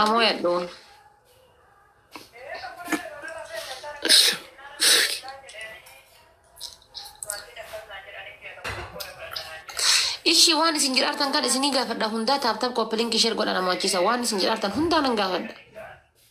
Amo ya doon. Ishii waan isin jiraartan kan isinii gaafadha hundaa taaptaap koppiliin kisheer godha nama achiisa waan isin jiraartan hundaa nan gaafadha.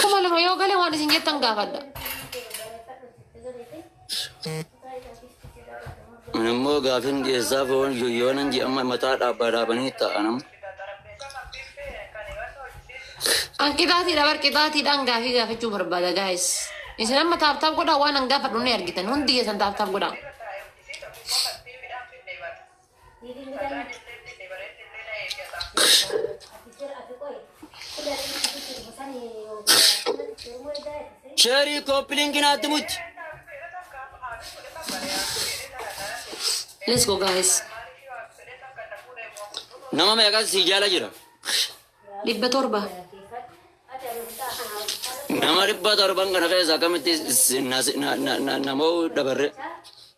Kuma lama yoo galee waan isin jettan gaafadha. Ani immoo gaafin dhiyeessaa foon yoyyoonan ji'amma mataa dhaabbaa dhaabanii ta'anam. An qixaatiidha bar qixaatiidhaan gaafii gaafachuu barbaada gaayis. Isin amma taaptaap godhaa waan an gaafadhu ni argitan hundi keessan taaptaap godhaa. Sheerii kooppilingi naatti muchi. Let's go guys. Nama meeqas si jala jira. Dhibba torba. Nama dhibba torban kana keessa akkamitti si- na- na- na- na- namoo dabarre.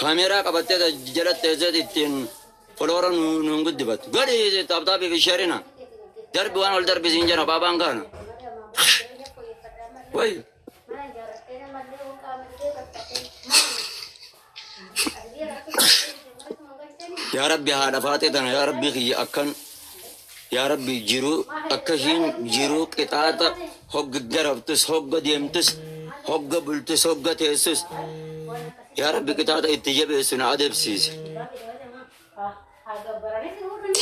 Kaameeraa qabattee ta- jala teesseet ittiin foloora nu nu hin guddifattu. Godhi taaptaabii fi sheerina. Darbi waan ol darbi siin jira baabaan kaana. Way. Yaa Rabbi haadha faatee tana yaa Rabbi kiyya akkan Yaa Rabbi jiruu akka ishiin jiruu qixaaxa hogg darabtus hogga deemtus hogga bultus hogga teessus yaa Rabbi qixaaxa itti jabeessu na adabsiisi.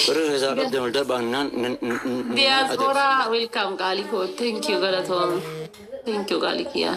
Warri keessaa qabdan ol darbaa nan nan- nan- nan adabsiisa. Diaspora welcome qaalii koo. Thank you galatoomi. Thank you qaalii kiyyaa.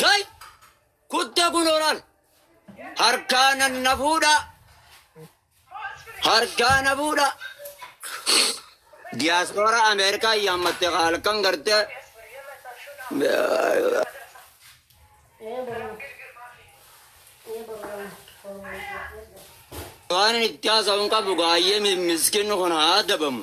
Kai kutta kun oral harkaa nan na fuudha harkaa na fuudha diyaaspoora Ameerikaa yaammatte halkan gartee waan itti haasa'uun qabu gaayyee miskinni kun haa adabamu.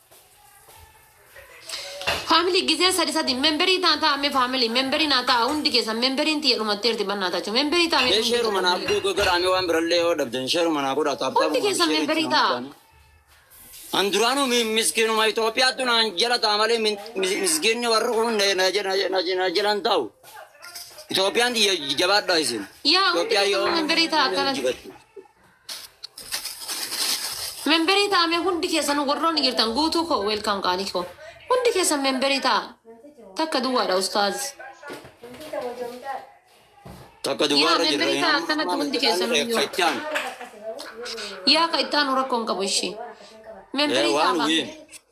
Family gisee sadi sadi memberii taa taa me family memberii naa taa hundi keessan memberiin tiyya dhumatteerti bannaa taachu memberii taa me Mee hundi sheeruma keessan naaf family. googoo godhaamee waan birallee yoo dhabdan sheeruma naa godhaa taaptaa Hundi keessan sheerii memberii itti taa. namuudhaan. An duraanuu mi- miskiinuma Itoophiyaattu naan jala ta'a malee min- mis- miskiinni warri kun na- na jala- na- na- na jala hin taa'u. Itoophiyaan tiyya jabaadhaa isin. Yaa hundi Itoophiyaa keessan yoo memberii taa akkanatti. jibatti. Memberii ta'a mee hundi keessan warroonni jirtan guutuu koo welcome qaalii koo. Hundi keessan memberii ta'a. Takka duwwaadha ustaaz. Takka Yaa duwwaarra jirra. memberii ta'a akkanatti hundi keessan iyyuu. Kachaan. Yaa ka itti aanu rakkoo hin qabu ishii. Memberii Waan ta'a. wii.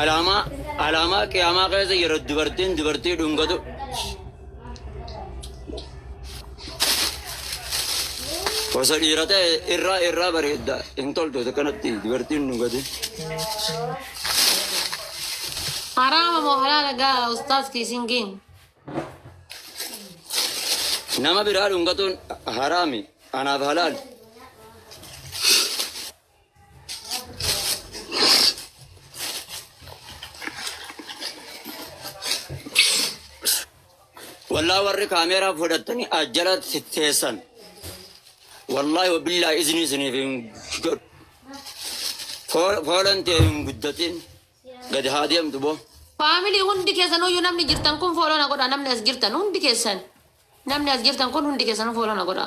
Alaamaa alaamaa qiyaamaa keessa yeroo dubartiin dubartii dhungatu osoo dhiira ta'e irraa irraa bareedda hin toltu isa kanatti dubartiin dhungate. Haraama moo halaala gaa ustaaz kiisingiin. Nama biraa dhungatuun haraami anaaf halaali. Wallah warri kaameeraa fudhattanii ajjalatti teessan. Wallaahi wabillaa isinii isiniif hin godhu. Foo- Foolan tee hin guddatin. Gadi haa deemtu boo. Faamilii hundi keessan uyyuu namni jirtan kun fooloo na godha namni as jirtan hundi keessan namni as jirtan kun hundi keessan fooloo na godha.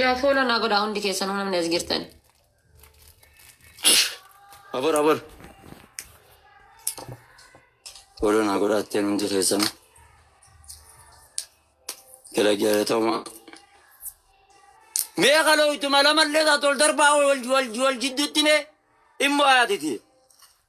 Yaa fooloo naa godhaa hundi keessanuu namni as jirtan. Abor abor. Fooloo naa godhaa atteen hundi keessan. Gara gara ta'uma. Mee kaloo ittuma lamallee taatu ol darbaa wal wal wal jidduutti mee immoo haatiti.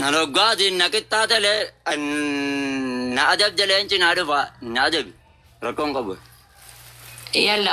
Nan hoggaatiin na qixxaatalee na adabde leenci naa dhufa na adabi rakkoon qabu. Yalla